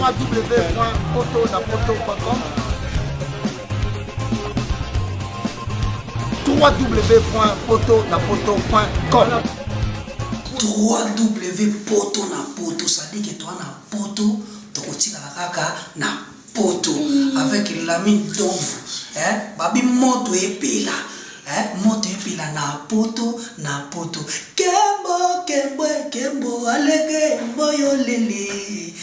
www.poto-na-poto.com www.poto-na-poto.com www.poto-na-poto, c'est-à-dire que toi na poto tokotikala kaka na poto avec lami ndomvu eh, babi moto epela eh, moto epela na poto na poto kembo kembo kembo alege mboyo lele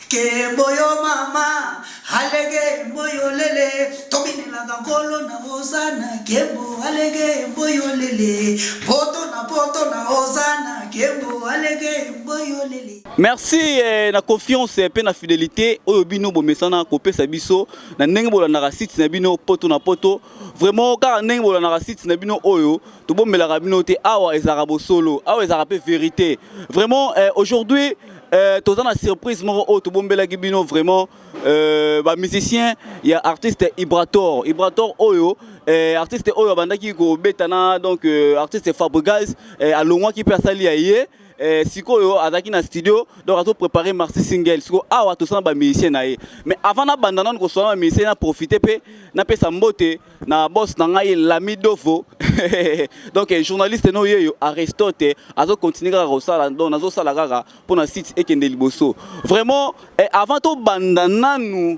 kembo yo mama alege mboyo lele tobinelaka nkolo na ozana kembo alege mboyo lele poto na poto na ozana kembo alege mboyo lele Merci eh, na confiance eh, pe na fidelite oyo bino bomesana kopesa biso na ndenge bolandaka site na bino poto na poto vraiment kaka ndenge bolandaka site na bino oyo tobombelaka bino te awa ezalaka bosolo awa ezalaka pe verite vraiment eh, aujourd'hui eh, toza na surprise moko oyo tobombelaki bino vraiment eh, bamusicien ya artiste ibrator ibrator oyo eh, artiste oyo abandaki kobeta na donc eh, artiste fabrigaz eh, alongwaki mpe asali ya ye Eh, sikoyo azalaki na studio donc azo préparer marcy single sikoyo awa tosala ba musicien na ye mais avant nabanda nano kosala ba musicien na profite mpe napesa mbote na boss na ngai lami dofo donc eh, journaliste no yeyo aristote azo continue kaka kosala donc nazosala kaka mpo na site ekende liboso vraiment eh, avant tobanda nanu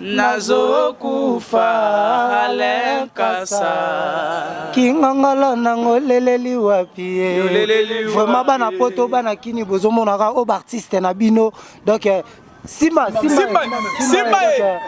Nazo kufa Alain Nkasa Kingangala nango leleli wapi ye Yo leleli wapi Vraiment bana poto bana kini bozo monaka o artiste na bino donc eh, Simba, Simba, Simba, Simba,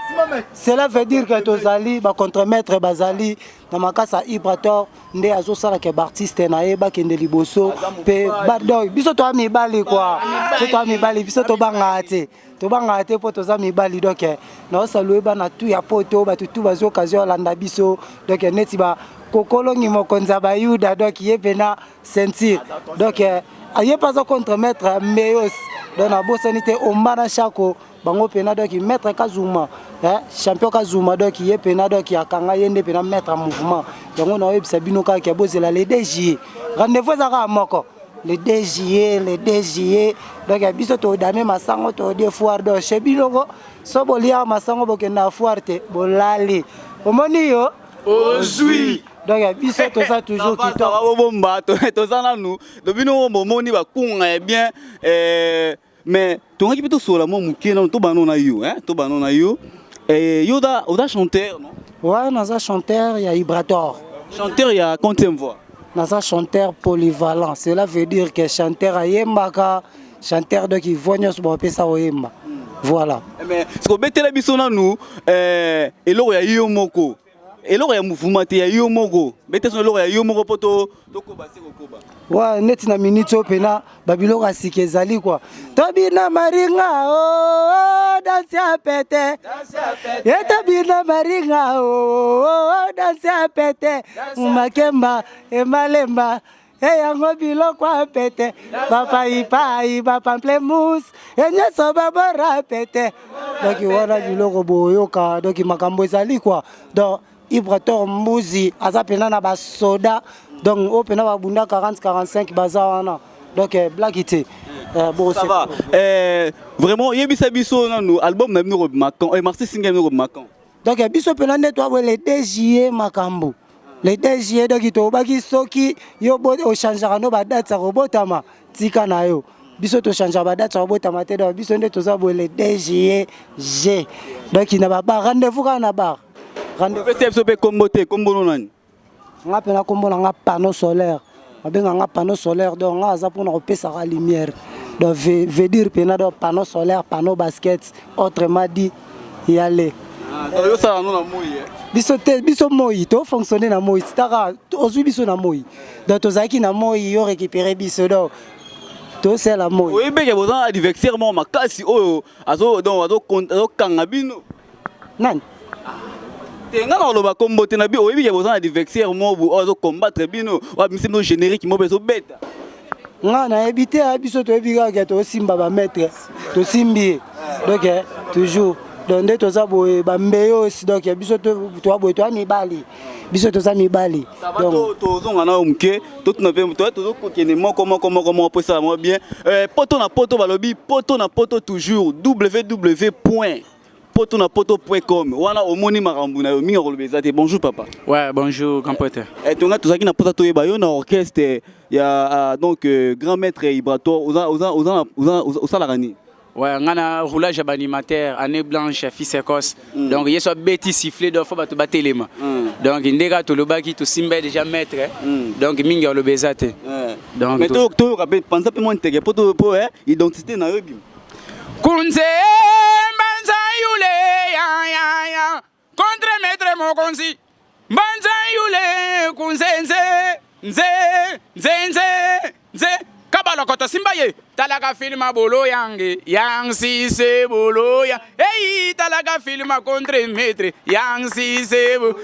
Simba, cela veut dire que tozali ba contre-maître bazali na makasa Ibrator nde azosala ke baartiste na ye bakende liboso mpe badoi biso toya mibali kua biso toya mibali biso tobangaka te tobangaka te mpo toza mibali donc eh, naosalue bana tu ya poto bato tu bazwi occasion alanda biso donc eh, neti bakokolongi mokonzi ya bayuda donc ye mpena ceinture donc eh, ye mpe aza contre maître meos donc nabosani te omba na shako bango mpena donc maître kazuma eh, champion kazuma donc ye mpena donc akanga ye nde mpena maître ya mouvement yango naoyebisa bino kaka bozela le dj rendez-vous eza kaka moko le 2 juillet le 2 juillet donc ya biso todame masango todie foire donc chez bino ngo so bolia masango bokende na foire te bolali omoni yo ozwi donc ya biso toza toujours kitoko bobomba toza nanu donc bino ngo bomoni bakunga ya bien eh, mais tongaki mpe tosolola mwa moke nano tobano na yo hein? tobano na yo eh, yo oza, oza chanteur non ouais naza chanteur ya ibrator chanteur ya quantième voix naza chanteur polyvalent cela veut dire que chanteur ayembaka chanteur donc ivoix nyonso bapesa oyemba voilà eh, mais sikobetela biso nanu eh, eloko ya yo moko eloko ya mouvement te ya yo moko bete sona eloko ya yo moko mpo tokoba se kokoba wa neti na minute oyo mpena babiloko ya sika ezali kua tobina maringa o oh, oh, danse ya pete ye tobina maringa o oh, danse ya pete makemba emalemba e yango biloko ya pete bapaipai bapamplemus e nyonso babora pete donki wana biloko boyoka donki makambo ezali kua donc ibrator mbuzi aza mpena na basoda donc oyo mpena babunda 40 45 baza wana donc eh, blaki te Euh, bon, ça va. Euh, vraiment, il y a un album, même nous, Marcy Singer, nous, Macan. donc ya biso mpena nde toabwe le 2 juillet makambo le 2 juillet donc tobaki soki yo ochangeaka no badate ya kobotama tika na yo biso tochangeaka badate ya kobotama te donc biso nde toza boye le 2 juillet g donc na babar rendez-vous kaka na bar rendez-vous biso mpe kombo te kombo no nani nga pena kombo na nga panneau solaire babenga nga panneau solaire donc nga aza mpona kopesaka lumière donc veut dire pena donc panneau solaire panneau basket autrement dit yale oyosala no na moi eh? biso te biso moi tofonctionne na moi titaka ozwi biso na moi donc tozalaki na moi yo récupéré biso donc tosala moi oyebeke boza na adversaire moko makasi oyo azokanga bino Nani? te nga nakoloba kombo te na bi oyebi ke boza na divexer mobu oyo azo combattre bino oyo abimisi bino générique mobu ezobeta nga nayebi te ah, biso toyebi kaka ke tosimba bamaitre tosimbi ye donc eh, toujours donc nde toza boye bambeyo osi donc eh, biso toa boye toa mibali biso toza mibali tozonga nayo moke totuna mpe tozokokende moko moko moko moko mpo esala moko bien eh, poto na poto balobi poto na poto toujours ww point poto na poto point com wana omoni makambo na yo mingi akoloba eza te bonjour papa ouais bonjour grand pote eh, tonga tozalaki na mposa toyeba yo na orchestre ya uh, donc uh, grand maître ibrato osalaka nini Ouais, on a un roulage à animateur, année blanche, fils écosse. Mm. Donc, il y a soit bêtis sifflé, donc faut pas te battre les mains. Mm. Donc, il y a tout le bas qui tout simbe déjà maître. Hein. Mm. Donc, mingi le baisate. Donc, mais tu tu rappelles, pense pas mon tege, pour pour hein, identité na yo bim. kunze mbanza yule ya ya ya contre maître mokonzi mbanza yule kunze nze nze nze nze nze kabalokoto simba ye talaka filma bolo yange yang sise bolo ya eyi talaka filma contre maître yang sise bolo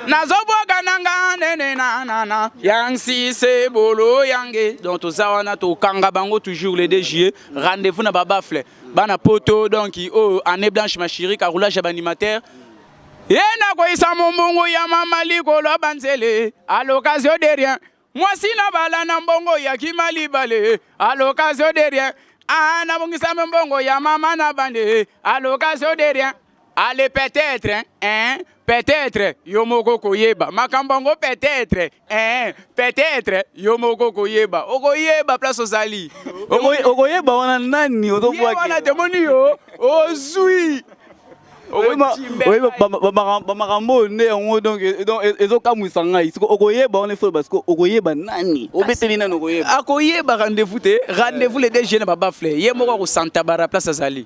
nazobwaga nanga nene nanana yang sise bolo yange donc toza wana tokanga bango toujours le 2 juillet rendez-vous na ba baffle bana poto donc oyo oh, année blanche ma chérie ka roulage ya ba animateur ye nakoyisa mombongo ya mama likolo ya banzele à l'occasion de rien mwasi na bala na mbongo ya kimalibale à l'occasion de rien ah nabongisa mbongo ya mama na bande à l'occasion de rien Ale peut-être hein peut-être yo moko koyeba makambo yango peut-être hein peut-être yo moko koyeba okoyeba place ozali okoyeba wana nani ozobwaki wana tomoni yo ozwi bamakambo oyo nde yango donc ezokamwisa ngai siko okoyeba wana efo basi okoyeba nani obeteli nani okoyeba akoyeba rendez-vous te rendez-vous le dg na babafle ye moko akosantabara place azali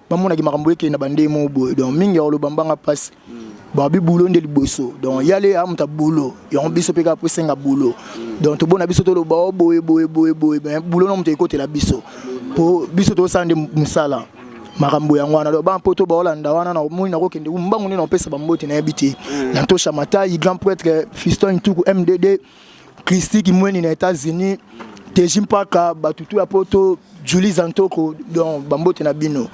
bamonaki makambo ekei na bandei moko boye donc mingi ya koloba mbanga mpasi babi bulo nde liboso donc yale amuta bulo yango biso mpe kaka mpo esenga bulo donc tobona biso toloba o oh, boye boye boye boye me bulo na moto ekotela biso mpo biso tozosala nde mosala makambo yango wana donc bampoto baolanda wana na omoni nakokende mbangu nde na kopesa bambote nayebi te na tosha matai grand prêtre fiston ntuku mdd Christy Kimweni na États-Unis, Teji Mpaka, Batutu ya Poto, Julie Zantoko, donc bambote na bino.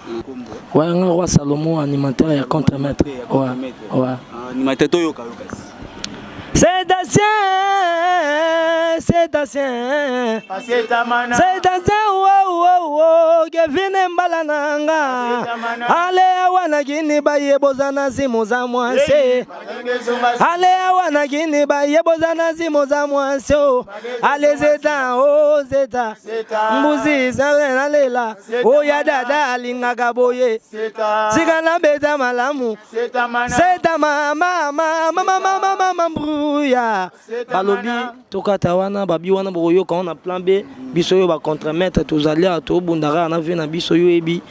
Ouais, nga roi Salomon, animateur ya contre-maître. Ouais, ouais. Ah, animateur to yoka yoka. C'est ancien, c'est ancien. Ah, c'est amana. C'est ancien, wow, wow, wow. Kevin Mbala nanga. Allez, awana gini baye bozana zimu za mwanse. ale awa na kini baye boza na zimo za mwasi o ale zeta o zeta mbuzi zale nalela oya dada alingaka boye sika nabeta malamu zeta mamamamamamamama mbruya balobi tokata wana babi wana bokoyoka wana plan b biso oyo bacontremaître tozali awa tobundaka na vie na biso yo yebi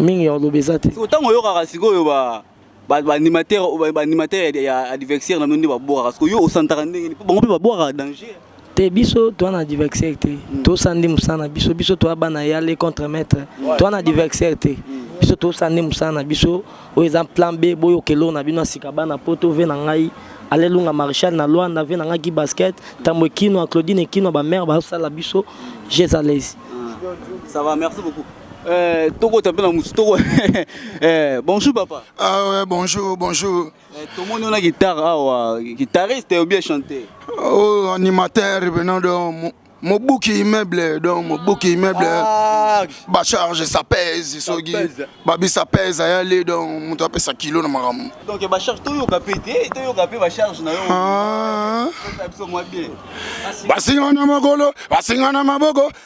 mingi ya oloba eza te ntango oyokaka sikoyo ba ba animateur ba animateur ya adversaire na nonde ba bora parce que yo osantaka ndenge ni bango pe ba bora danger te biso toa na adversaire te mm. tosandi mosala na biso biso toa bana ya le contre maître ouais. toa na adversaire te mm. biso tosandi mosala na biso oyo eza plan b boyoka eloko na bino ya sika bana poto ve na ngai alelunga marechal na luanda ve na ngai ki basket ntambo ekino ya claudine ekino ya bamare bazosala biso jezalesi ah. ça va merci beaucoup Eh, toko tapela musu toko eh, bonjour papa ah ouais, bonjour bonjour eh, tomoni ona guitare awa guitariste ou bien chanteur oh animateur venant de mobuki immeuble donc mobuki immeuble ah. bacharge ça pèse soki babi ça pèse ayali donc moto apesa kilo na makambo donc bacharge toyoka mpe te toyoka mpe bacharge na yo ah. basinga na makolo basinga na maboko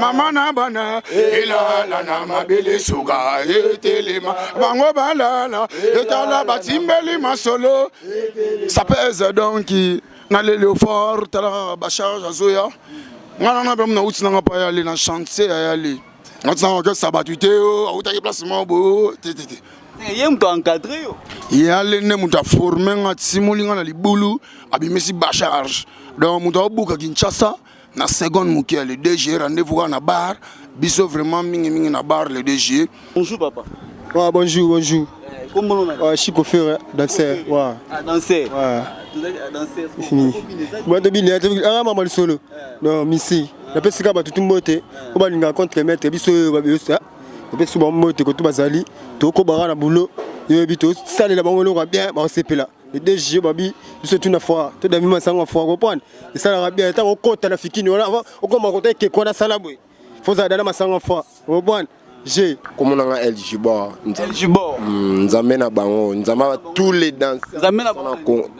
mama na bana elala na mabele suka etelema bango balala etala batimbeli masolo ça pèse donc na lelio fort tala bacharge azoya ngai nanga mpe muna uti nanga mpe ayali na chantier ayali nati nanga okesa bato te o autaki place moko boyo te te te eh, ye moto encadre yo ye ale nde moto aforme nga atimoli nga na libulu abimisi bacharge donc moto aobuka kinshasa na seconde moke le 2 juillet rendez-vous kaka na bar biso vraiment mingi mingi na bar le 2 juillet bonjour papa ah, bonjour bonjour ah, chico fere danser wa ah, danser bato bini aa mama lisolo eh. no misi napesi kaka bato tumbote eh. po balingaka contre maître biso oyo babeyosa napesi bango mbote koto bazali tokobaka na boulot yoyebi tosalela bango eloko ya bien bakosepela le DG babi biso tuna fois to dami masanga fois comprendre esalaka bien ta kokota na fikini wana avant okoma kota ke kona sala boye faut za dana masanga fois comprendre je komona nga El Gibor El Gibor hmm, nzambe na bango nzambe ba tous les danseurs nzambe na bango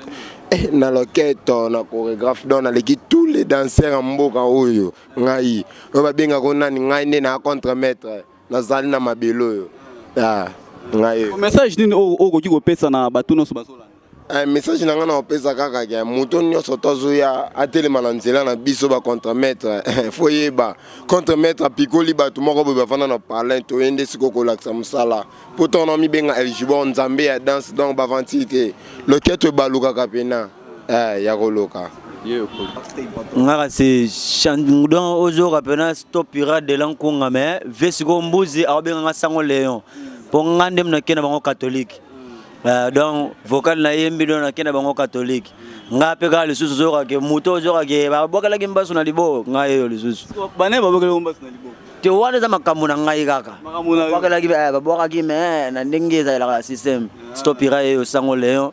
eh, na loketo na chorégraphe donc naleki tous les danseurs ya mboka oyo ngai oyo babengaka nani ngai nde na contre maître Nazali na mabele oyo ya ngai. Message nini oyo okoki kopesa na bato nyonso bazolanda? Eh, message na ngai na kopesa kaka ke moto nyonso to azoya atelema na nzela na biso ba contre maître fo yeba contre maître apikoli bato moko boye bafanda na parlin toye nde sikoyo kolakisa mosala mpo ntango na mibenga eljibor nzambe ya danse donc baventure te loketo ebalukaka pena Eh, ya koloka. nga kasi don ozoyoka mpena stop pirate de la nkunga me vie sikoyo mbuzi akobenga nga sango leon mpo nga nde nake na bango katholike eh, donc vocal nayembi don nake na bango katholike nga mpe kaka lisusu ozokake moto ozokake babwakelaki mbasu na liboko ngai eyo lisusu te wana eza makambo na ngai kaka babwakelaki eh, me na ndenge ezalelaka na systeme stop pirate eyo sango leon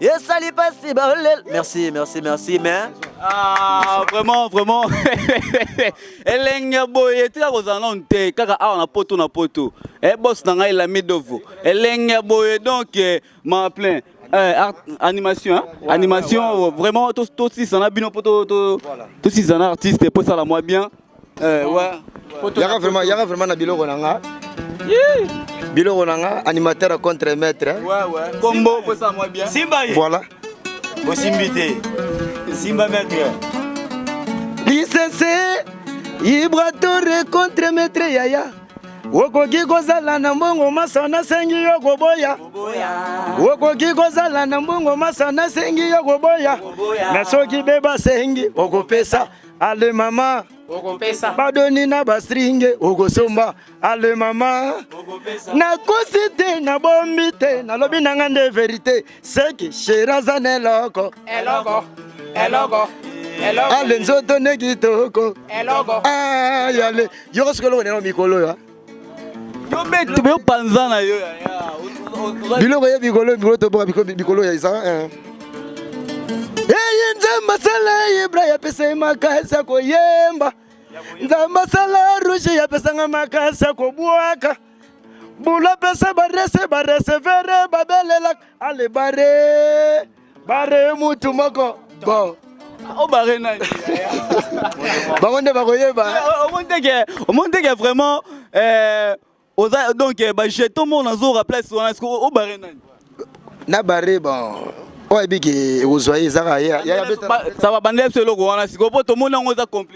esali pasi baolel merci merci merci mais ah vraiment vraiment elenge boye tika kozala nanu te kaka awa na poto na poto e eh, bos na ngai lamidovo elenge boye donc eh, ma plein Eh, art, animation hein? ouais, animation ouais, ouais. vraiment tosisana bino mpo tosisana artiste mpo esala mwa bien Eh, wa. Yaka vraiment, yaka vraiment na biloko na nga. Biloko na nga, animateur contre maître. Hein. Ouais, ouais. Combo, pour ça, moi bien. Simba. Voilà. Osimbi te. Simba maître. Lisese, Ibratore contre maître Yaya. okoki kozala na mbongo masa nasengi yo koboya okoki kozala na mbongo masa nasengi yo koboya na soki be basengi okopesa ale mama okopesa badoni na bastringe okosomba ale mama nakosi te nabombi te nalobi na nga nde verite seke sheri aza na eloko eloko eloko ale nzoto nde kitoko yale yoko sikoyo eloko na yango mikolo oyo Yo betu be panza na yo ya ya. Biloko ye bikolo bikolo to boka bikolo bikolo ya isa. Eh. Eye nzamba sala ibra ya pesa makasi ya koyemba. Nzamba sala rouge ya pesa makasi ya kobwaka. Bula pesa barese barese vere babelelaka ale bare. bare mutu moko bo obare oh, nani bango nde bakoyeba omoni teke vraiment eh, oza donc eh, bajeton moko nazora place wana ceque obare oh, nani na bare bon oyo ayebiki ekozwa ye ezaka ye ça va bandela biso eloko wana sikoyo mpo tomoni yango eza compli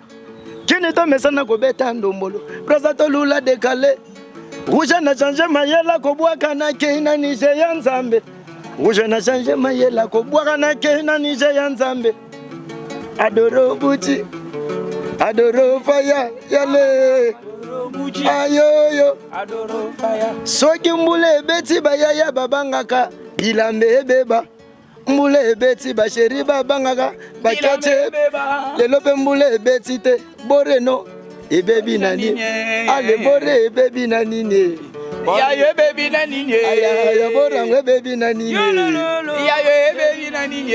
Kini to mesana kobeta ndombolo. Brasa to lula dekale. Rouge na change mayela kobwaka na kei na Niger ya Nzambe. Rouge na change mayela kobwaka na kei na Niger ya Nzambe. Adoro buti. Adoro faya yale. Ayoyo. Adoro faya. Soki mbula ebeti bayaya babangaka bilambe ebeba. mbula ebeti basheri babangaka bakece lelo mpe mbula ebeti te boreno ebebi na nini ale bore ebebi na nini yayo ebebi na nini ya borango ebebi na nini yayo ebebi na nini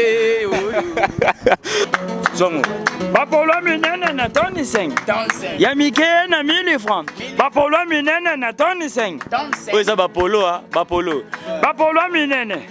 zongo bapolo minene na toni 5 ya mike na 1000 franc bapolo minene na toni 5 oyo eza bapolo a bapolo bapolo minene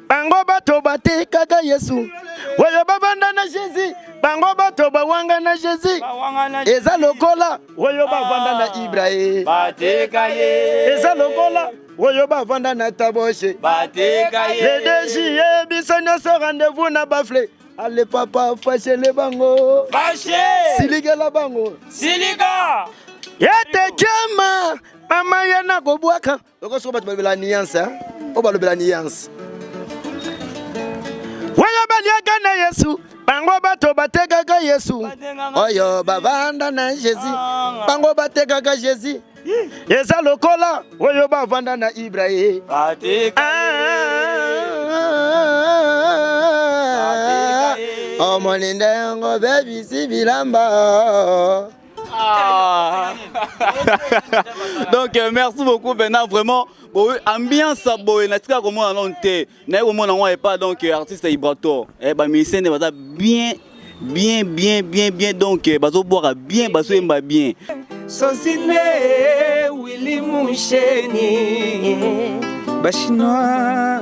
bango bato batikaka yesu oyo bavanda na jésus bango bato bawanga na jésus eza lokola oyo bavanda na ibrahim eza lokola oyo bavanda na taboshe ledeji ye biso nyonso rendez-vous na bafle ale papa fashele bango silikela bango silika yete jama mama ye nakobwaka Loko soko bato balobela nuance hein? Oyo balobela nuance. Waya baliaka na Yesu bango bato batekaka Yesu oyo bavanda na Jésus bango batekaka Jésus eza lokola oyo bavanda na Ibrahim omoni nde yango bebisi bilamba Ah. donc euh, merci beaucoup bena vraiment boye ambiance boye natika komona nano te naye komona yango epa donc euh, artiste ibrator eh, bamusicien nde baza bien bien bien bien bien donc euh, bazobwaka bien bazoyemba bien sosine wili musheni bachinois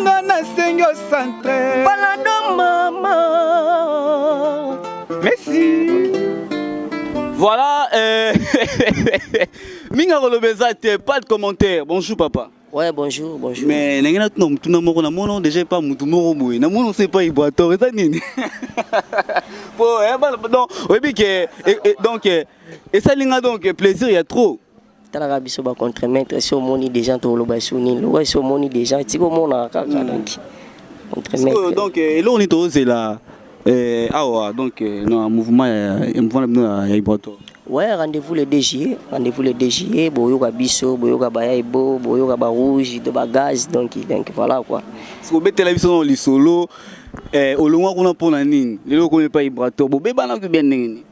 nga nasengi yo centre palado mama merci voilà euh... mingi akoloba eza te pas de commentaire bonjour papa Ouais, bonjour, bonjour. Mais ndenge na tuna mutuna moko na mono déjà epa mutu moko boye na mono se epa iboator eza nini po eh, donc oyebi ke eh, eh, donc esali nga donc plaisir ya trop Tala kaka biso ba contre mètre esi omoni deja to loba esi nini loba esi omoni deja etika omona kaka hmm. donc contre mètre donc euh, eloko ni to zela euh awa donc euh, na mouvement ya mouvement na bino ya iboto ouais rendez-vous le 2 juillet rendez-vous le 2 juillet boyoka biso boyoka baya ebo boyoka ba rouge de ba gaz donc donc voilà quoi siko betela biso na lisolo eh olongwa kuna pona nini lelo ko epa iboto bobebana ko bien ndenge nini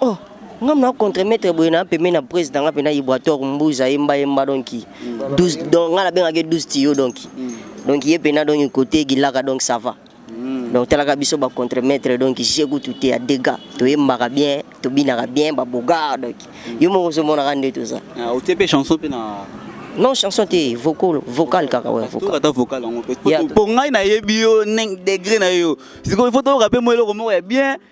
Oh, nga mna contre maître boye na pembe na prise na nga pena ibwator mbuza yemba yemba donc 12 mm. donc nga na benga ke 12 tiyo donc mm. donc ye pena donc côté gilaka donc ça va mm. donc talaka biso ba contre maître donc je goût tout est à dégâts to yembaka bien to binaka bien ba bogar donc yo moko so mona kande tout ça ah o tepe chanson pena non chanson te vocal vocal kaka ouais vocal ata vocal yango pe po ngai na yebi yo degré na yo sikoyo faut to rappe mo eloko moko ya bien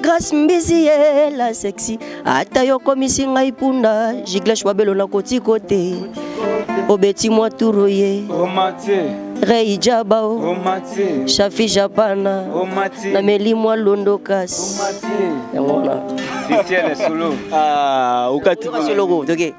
Grace Mbizi ye la sexy ata yo komisi ngai punda Giglash Wabelo na koti kote obeti mwa turu ye Rei Jabao Shafi Japana na meli mwa londo kasi yango na Christian Solo ah ukati solo ko toke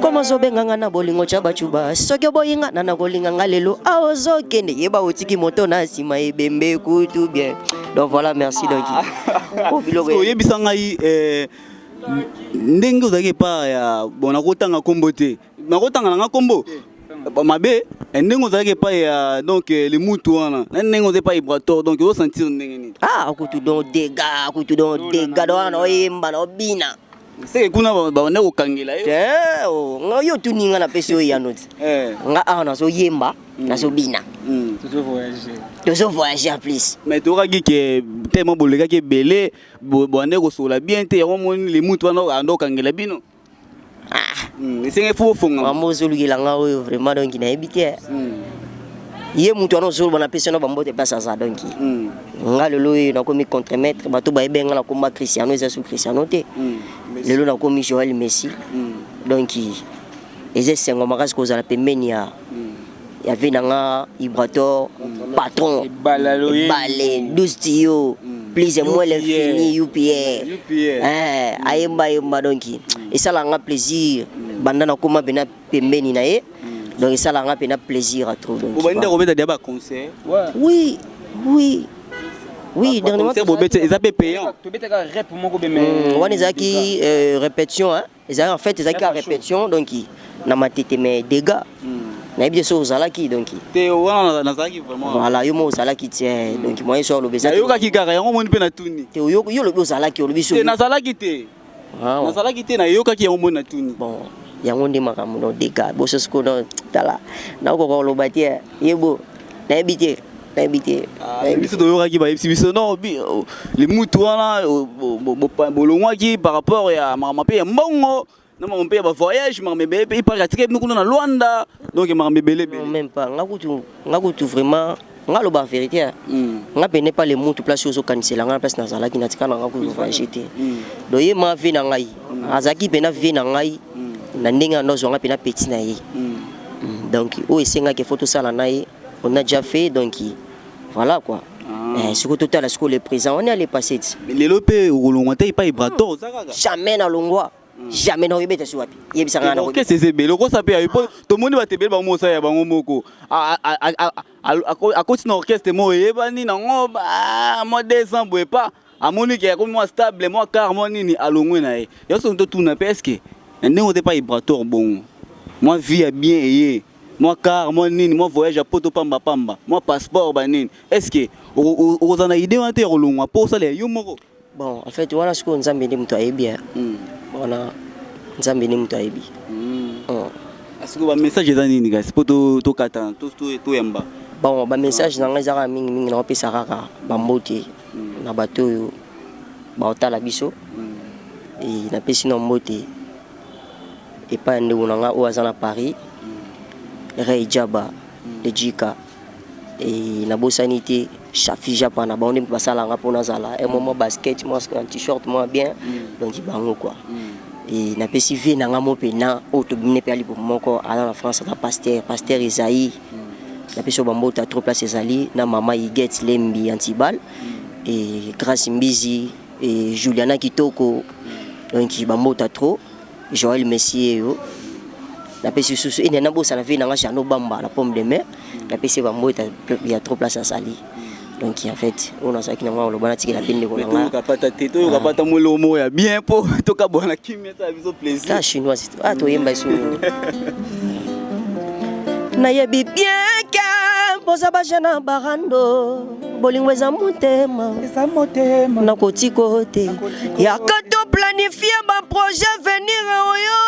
koma ozobenga nga na bolingo tya bacuba soki oboyi nga na nakolinga nga lelo a ozokende yeba otiki moto na nsima ebembe kutu bien donc voilà merci donc ah. oyebisa ngai eh, ndenge ozalaki epa ya bon nakotanga nkombo te nakotanga na nga nkombo eh, mabe eh, ndenge ozalaki epai ya donc limutu wana na ndenge oza epai brator donc ozosentir ndenge nini ah kutu don dega kutu don dega don wana oyemba na obina seke kuna banda kokangela yo eh, oh, nga yo otuni nga napesi yo eyano ti eh. nga awa ah, nazoyemba mm. nazobina mm. tozo voyage en plus mais tokaki ke tellement bolekaki ebele bande kosola bien te yango moni limutu wana anda kokangela bino ah. mm, esenge fo ofonga mama ozolukela nga oyo vraiment donki nayebi te ye mutu wana ozoloba na pesi na bambote place aza donc mm. nga lelo oyo nakomi contremettre bato bayebi nga na komba cristiano eza su cristiano te mm. lelo nakomi joel messi mm. donc eza esengo makasi kozala pembeni ya mm. ya vie na nga ibrator mm. patron bale 12 tiyo mm. please moi l'infini upa eh, ayemba ayemba donc mm. esala nga plaisir mm. banda nakoma bena pembeni na ye donc esalaka nga mpena plaisir à trop donc obandi kobeta dia ba concert oui oui oui dernièrement bobeta eza mpe payant tobetaka rep moko be mais hmm, wana ezalaki euh, répétition hein ezalaki en fait ezalaki ka répétition donc na matete mais dégâts hmm. nayebi te soki ozalaki donc te wana nazalaki vraiment voilà yo moko ozalaki te hmm. donc moyen soki olobi ezalaki oyokaki kaka yango omoni mpe natuni te yo olobi ozalaki olobi soki nazalaki te Ah, nazalaki te nayokaki yango moi natuni bon yango nde makambo no dega boso siko no tala nakokoka koloba te eh. yebo nayebi te nayebi te ah, biso toyokaki bayebisi biso no oh, limutu wana oh, bolongwaki par rapport ya makambo mpe ya mbongo na makambo mpe ya bavoyage makambo ebele mpe ipaka atika bino kuna na lwanda donc makambo ebele ebele même pas nga kutu nga kutu vraiment nga loba en vérité hein. mm. nga pene pas le mutu place ozo kanisela nga place nazalaki na tika na nga ko voyager te mm. donc ye ma vie na ngai mm. azaki pena vie na ngai mm. na ndenge ando zonga pena petit na ye mm. mm. donc o esenga ke photo sala na ye on a déjà fait donc voilà quoi ah. eh, sikoyo totala sikoyo le présent wana ya le passé ti lelo mpe okolongwa te epai brator ozakaka jamais nalongwa jamais na oyebeta si wapi yebisa nga na ko kese zebele okosa pe ayo to moni ba tebele ba mosa ya bango moko a a a akoti na orchestre mo yebani na ngo ba mo 200 boye pas amoni ke akomi mwa stable mwa car mwa nini alongwe na ye yo so to tuna pe eske na ndenge ote pa ibrator bongo mwa vie ya bien eye mwa car mwa nini mwa voyage ya poto pamba pamba mwa passeport ba nini eske okozana idée wana te ya kolongwa po osala yo moko Bon en fait wana sikoyo nzambe nde moto ayebi hein. Mm. wana nzambe nde moto ayebi mm. oh. asiko ah, bamessage eza nini kasi mpo tokatana toyamba bon bamessage na ngai eza kaka mingimingi naopesa kaka bambote mm. na bato oyo baotala biso mm. e, napesi na mbote epai ya ndeko na ngai oyo aza na paris mm. rey jaba mm. lejika Et nabosani te Shafi Japa na bango nde moto basala nga mpo nazala un moment basket mwa un t-shirt mwa bien donc bango quoi et napesi vie na nga mo mpe na oyo tobimi mpe alibo moko aza na France aza pasteur pasteur Esaïe napesi yo bambota trop place ezali na mama Igette Lembi Antibal et Grace Mbizi et Juliana Kitoko donc bambota trop Joël Messi yeyo napesi susu ene nabosana vie na nga Jeannot Bamba na pomme de mer napesi ye bambo eta ya trop place asali donc en fait oyo nazalaki nango aloba natikela mpe ndeko na nga kapata te toyoka pata moloo moko ya bien mpo tokabwana kimia esala biso plaisir ta chinoise to ah toyemba esu nayebi bien ke boza baje na barando bolingo eza motema eza motema nakotika te yaka to planifie baprojet venir oyo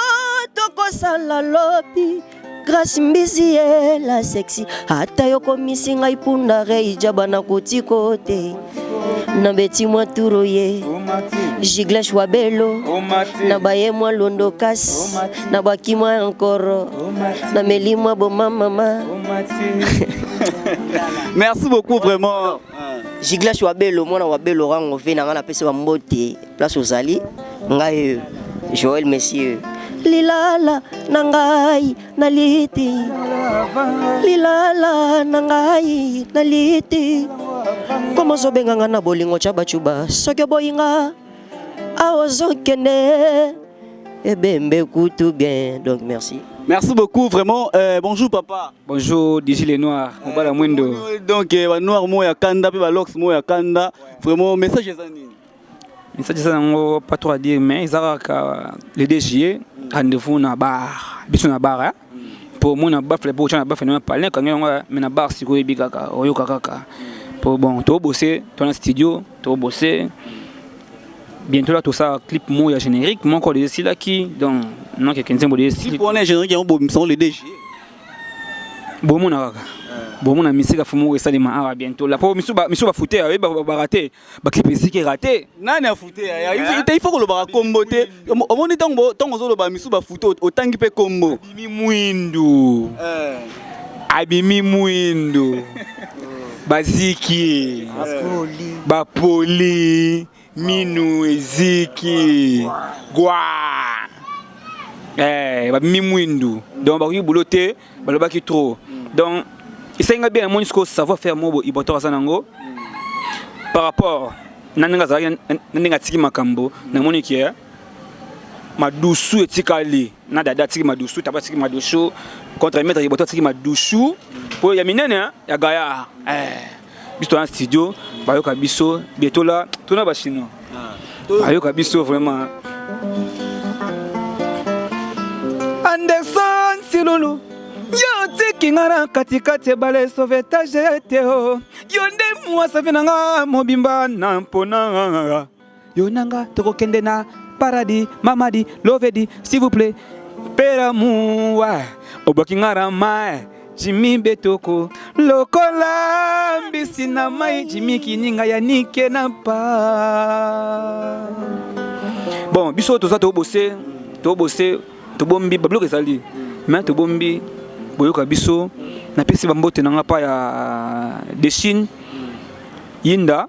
tokosala lobi grace mbizi ye la sexy ata yokomisi ngai mpunda reijaba nakotiko te na beti mwa turo ye giglesh wa belo na baye mwa londo kasi na bwaki mwa ya nkoro na meli mwa bomamama merci beaucoup vraiment jiglash wa belo mwana wa belo rango ve na ngai napesi bambote place ozali ngai joel monsieur lilala na ngai na liti lilala na ngai na liti komozobenga ngai na bolingo tya bacuba soki oboyinga Aozokende ebembe kutu bien. Donc merci. Merci beaucoup, vraiment. Euh, bonjour, papa. Bonjour, DJ Les Noirs. Euh, Obala Mwendo. Euh, donc, euh, Noir Moya Kanda, puis Lox Moya Kanda. Ouais. Vraiment, message est anime. Message est anime, pas trop à dire, mais ils ont le DG, rendez-vous dans la bar. Bisous dans la bar, hein. mpo omona bafle mpo otyana bafle na palin ekangi yango me na bar sikoyo eyebi kaka oyoka kaka mpo bon tobose to na studio To bosser bientôt là tout ça clip mot ya générique moko les sila qui donc non que kenzen bo les clip on est générique on bo misolo le DG bo mona kaka bo mona misika fumu esali ma awa bientôt là po misu ba misu ba fouter ba ba rater ba clip eziki rater nani a fouter ya il faut ko loba kombote omoni ntango ntango ozoloba misusu bafuto otangi mpe kombo abimi mwindu eh. abimi mwindu baziki bapoli minu eziki gwa eh, babimi mwindu donc bakoki bulo te balobaki trop donc esengi ngai bien namoni sikoyo savoir faire moko boye ibotor aza nango par rapport na ndenge azalaki na ndenge atiki makambo namoni ke madusu etikali na dada atiki madusu taba atiki madusu contre maître ibotor atiki madusu mpo ya minene ya gaya eh. biso toza na studio bayoka biso bie tola tona bachinois ah. bayoka biso vraiment anderson silulu yo otiki nga na katikati ebale sauvetage te o oh. yo nde mwasave na nga mobimba na mpona Yo na nga tokokende na paradis mamadi lovedi s'il vous plaît pera muwa oboki nga rama jimi betoko lokola mbisi na mai jimi kininga ya nike na pa bon biso toza tobose tobose tobombi babiloko ezali me tobombi boyoka biso napesi bambote na nga pa ya dechine yinda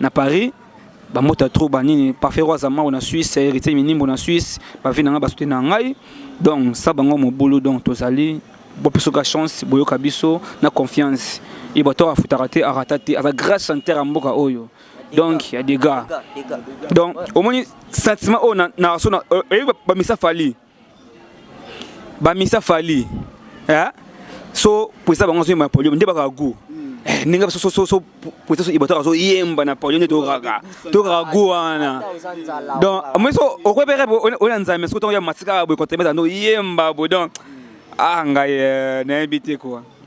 na Paris ba mota trop ba nini parfait roi zamao na Suisse héritier minimbo na Suisse ba vie na ngai ba soutenu na ngai donc ça bango mobulu donc tozali bopesoka chance boyoka biso na confiance ye bato afutaka te arata te aza grand chanteur ya mboka oyo donc ya dega donc omoni sentiment oyo na so oyebi bamisa fali ba misa fali eh so poisa bango so ma polio nde baka goût eh, ndenge so so so poisa so ibata so yemba na polio nde to kaka to kaka goût wana donc mais so okwe bere ona nzambe so to ya masika bo ko tebe no yemba bo donc ah ngai eh, na ebite quoi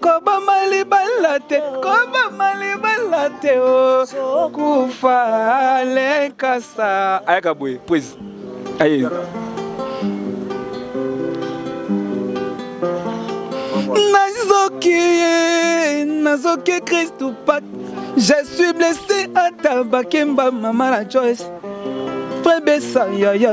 koboma libala te koboma libala te okufa oh, lekasa ayaka boye poezi aye nazoki nazoki kristu pat je suis blessé ata bakemba mama la joyce frebesa yaya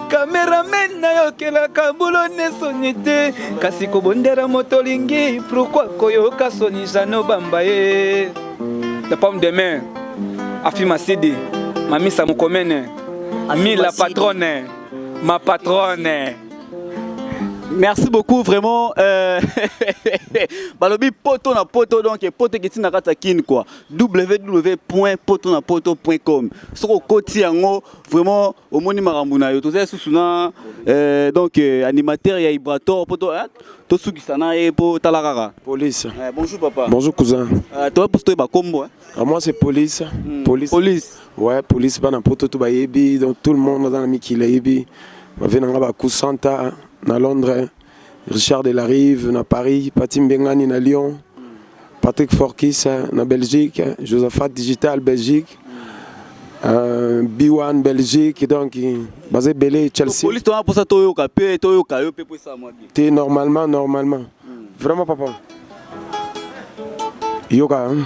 Cameraman na yo kelaka bulo ne soni te kasi kobondela moto olingi pourquoi koyoka soni jano bamba ye la pomme de main afi masidi mamisa mokomene mi la patronne ma patronne merci beaucoup vraiment euh, balobi poto na poto donc poto ekiti na kati ya kin quoi www poto na poto com soki okoti yango vraiment omoni makambo na yo toza lisusu na eh, donc eh, animateur ya ibrator mpo eh, tosukisa na ye mpo tala kaka police eh, bonjour papa bonjour cousin uh, toa mposo toyeba nkombo eh? Ah, moi c'est police. Mm. police police ouais police bana poto to bayebi donc tout le monde aza na mikili ayebi bave na nga baku santa na londres Richard de la Rive na Paris, Pati Mbengani na Lyon, Patrick Forkis eh, na Belgique, eh, Josaphat Digital Belgique, euh, B1 Belgique, donc baza ebele Chelsea. Police tona posa toyoka pe toyoka yo pe po esa mwa bien. Te normalement normalement. Hmm. Vraiment papa. Yoka. Hein?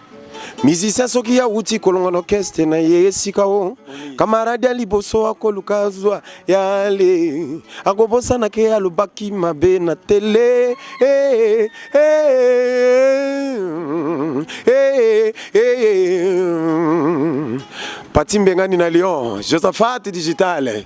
musicien soki ya wuti kolonga na orchestre na ye esika o kamaradi ya liboso akoluka zwa yale akobosana ke alobaki mabe na tele eh, eh, eh, eh, pati mbengani na lyon josaphat digital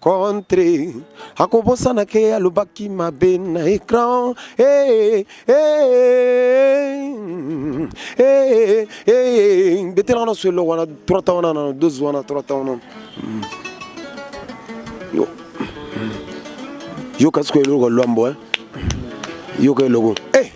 contre akobosana ke alobaki mabe na ecran eh, eh, eh, betela wana solo wana 3 temps wana na 12 wana 3 temps wana hmm. yo hmm. yoka sikoyo eloko lwambo yoka eloko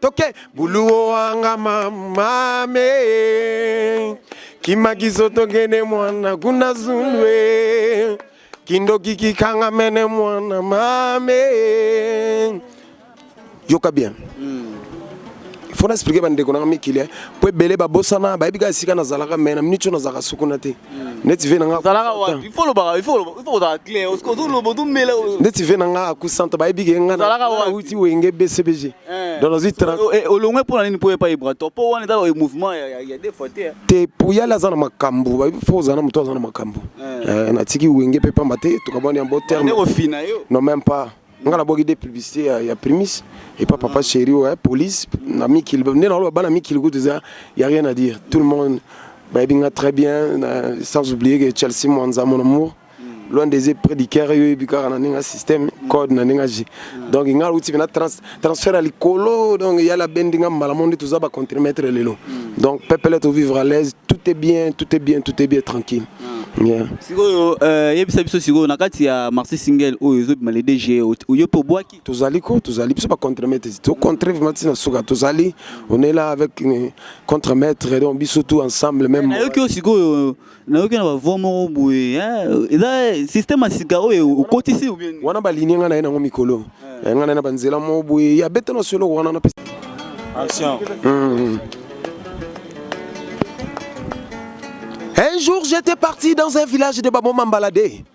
toke buluwo wanga mamame kimakiso tokende mwana kuna zulwe kindoki kikanga mene mwana mame yoka bien mm. fo na explike bandeko nanga mikili eh. mpo ebele babosana bayebi kaka esika nazalaka me na miniti oyo nazalaka sukuna te hmm. neti ve nanga neti ve nanga akusanta bayebi ke nga nauti wenge bcbg Eh, donc nazwi eh, olongwe mpo na nini mpo epai brator mpo wana eza mouvement ya deux fois te te mpo yale aza na makambo fo ozala na moto aza na makambo eh. natiki wenge mpe pamba te tokabwani ya bo terme non même pas nga nabwaki de publicité ya, ya primis epa papa chéri oyo police na mikili nde naloba bana mikili kutu eza ya rien à dire tout le monde bayebi nga très bien sans oublier que chelsea mwanza mon amour loin des yeux près du cœur yo yebi kaka na ndenge système code na ndenge je donc nga uti na trans transfert ali kolo donc ya la bendi nga mbala monde tous ba contre-maître lelo donc peuple est vivre à l'aise tout est bien tout est bien tout est bien tranquille Yeah. sikoyo euh, yebisa biso sikoyo na kati ya marché single oyo ezobima le dg oyo mpe obwaki tozali ko tozali biso bacontremaître tocontre vraimen ti na suka tozali on est là avec contre maître donc biso tout ensemble même nayoki oyo sikoyo nayoki na bavoi moko boye eza systeme ya sika oyo okotisi wana balinie ngai na ye nango mikolo eh, ngai na ye na banzela moko boye ya beta na soloko wana na Un jour, j'étais parti dans un village de Baboma Mbalade.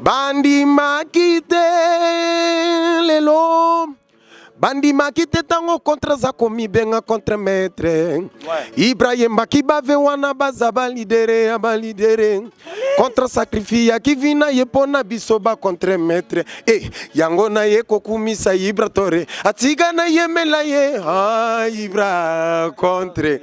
bandimaki te lelo bandimaki te ntango kontre aza komibenga contre maître ibrahim bakibave wana baza balidere ya balidere contre sacrifice ya kivina ye mpo na biso ba contre maître e eh, yango na ye kokumisa ibra tore atika na yemela ye ah, ibra contre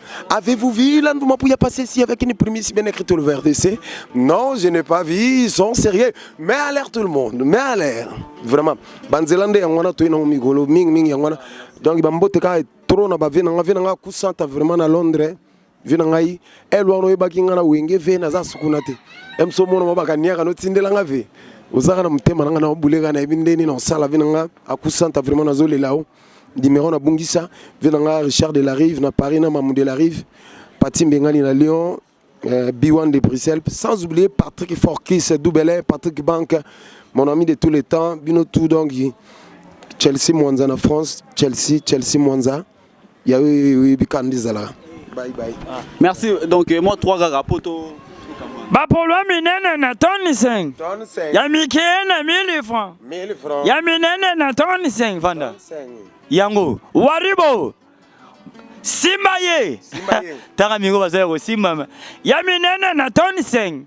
Avez-vous vu la Ndouma Pouya passer ici avec une prémisse bien écrite le VRDC Non, je n'ai pas vu, ils sont sérieux. Mais à l'air tout le monde, mais à l'air. Vraiment. Banzelande yangwana toyina migolo ming ming yangwana. Donc bambote ka trop na ba vie na nga vie na nga kusanta vraiment na Londres. Vie na ngai elwa no yebaki nga na wenge vie na za sukuna te. Emso mono mabaka niaka no tindela nga vie. Ozaka na mutema na nga na buleka na ebindeni na sala vie na nga akusanta vraiment na zolela. Numero na bungisa vie na nga Richard de la Rive na Paris na Mamu de la Rive, Pati Mbengani na Lyon, euh, Biwan de Bruxelles, sans oublier Patrick Forkis, Doubele, Patrick Bank, mon ami de tous les temps, bino tout donc Chelsea Mwanza na France, Chelsea, Chelsea Mwanza. Ya oui oui bikandi zala. Bye bye. Merci donc euh, moi trois gars poto bapolwa minene na toni 5 ya mike na 1000 franc ya minene na toni 5 vanda yango waribo simba ye tanga mingo baza ya kosimbama ya minene na toni 5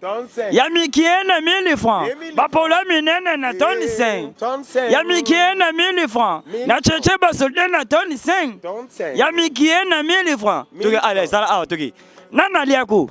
ya mikie na 1000 franc bapolwa minene na toni 5 ya mikie na 1000 franc na cheche basolde na toni 5 ya mikie na 1000 franc toki ala ezala awa toki nani aliako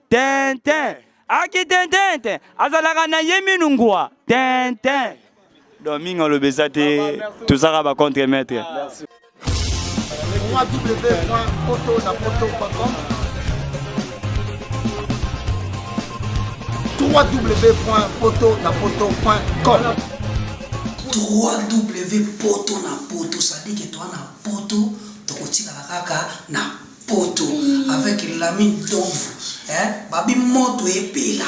Tintin. Aki tintin azalaka na ye minu ngwa. Tintin. Donc mingi aloba eza te tozaka ba contre maître. www.poto-na-poto.com www.poto-na-poto.com www.poto-na-poto, c'est-à-dire que toi na poto tokotikala kaka na poto avec lami ndomvu eh, babi moto epela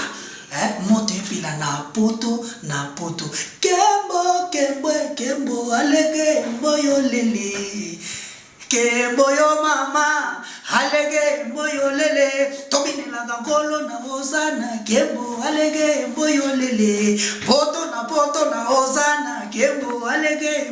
eh, moto epela na poto na poto kembo kembo kembo alege mboyo lele kembo yo mama alege mboyo lele tobinelaka nkolo na ozana kembo alege mboyo lele poto na poto na ozana kembo alege